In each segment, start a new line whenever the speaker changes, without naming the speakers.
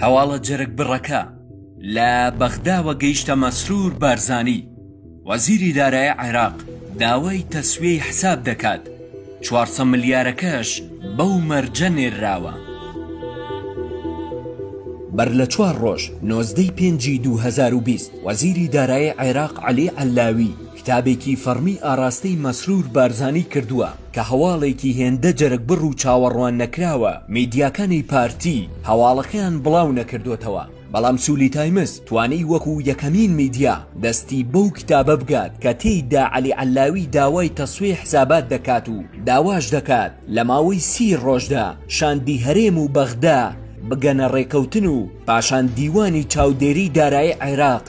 هەواڵە جەرگ بڕەکە، لە بەغداوە گەیشتە مەسرور بارزانی، وەزیری دارای عێراق داوای تەسویەی حساب دەکات، چوار سە ملیارەکەش بەو مەرجە نێرراوە. بەر لە چوار ڕۆژ، نۆزدە ی پێنجی دوو هەزار و بیست، وەزیری دارای عێراق عەلی عەللاوی، کتابێکی فەڕمی ئاڕاستەی مەسرور بارزانی کردووە کە هەواڵێکی هێندە جەرگبڕ و چاوەڕوان نەکراوە میدیاکانی پارتی هەواڵەکەیان بڵاو نەکردۆتەوە بەڵام سولی تایمز توانی وەکو یەکەمین میدیا دەستی بەو کتابە بگات کە تێیدا عەلی عەللاوی داوای تەسویە حسابات دەکات و داواش دەکات لە ماوەی سی ڕۆژدا شاندی هەرێم و بەغدا بگەنە ڕێکەوتن و پاشان دیوانی چاودێری دارایی عێراق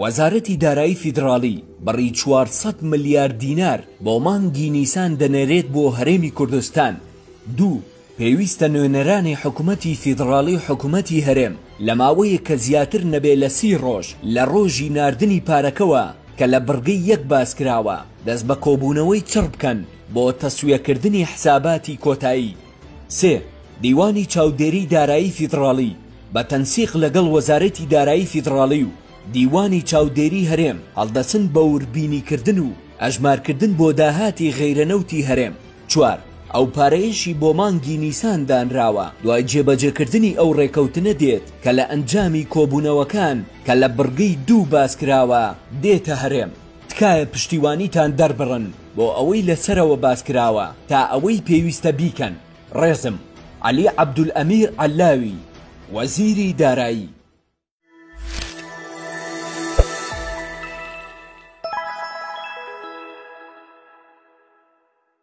وەزارەتی دارایی فیدڕاڵی بڕی چوار سەد ملیار دینار بۆ مانگی نیسان دەنێرێت بۆ هەرێمی کوردستان دوو پێویستە نوێنەرانی حکومەتی فیدڕاڵی و حکومەتی هەرێم لە ماوەیەک کە زیاتر نەبێ لە سی ڕۆژ لە ڕۆژی ناردنی پارەکەوە کە لە بڕگەی یەک باس کراوە دەست بە کۆبوونەوەی چڕ بکەن بۆ تەسویەکردنی حساباتی کۆتایی. سێ، دیوانی چاودێریی دارایی فیدڕاڵی بە تەنسیق لەگەڵ وەزارەتی دارایی فیدڕاڵی و دیوانی چاودێریی هەرێم هەڵدەچن بۆ وربینیکردن و ئەژمارکردن بۆ داهاتی غەیرە نەوتی هەرێم. چوار، ئەو پارەیەشی بۆ مانگی نیسان دانراوە دوای جێبەجێکردنی ئەو ڕێکەوتنە دێت کە لە ئەنجامی کۆبوونەوەکان کە لە بڕگەی دوو باسکراوە دێتە هەرێم. تکایە پشتیوانیتان دەربڕن بۆ ئەوەی لە سەرەوە باس کراوە تا ئەوەی پێویستە بیکەن. ڕێزم. عەلی عەبدولئەمیر عەللاوی، وەزیری دارایی.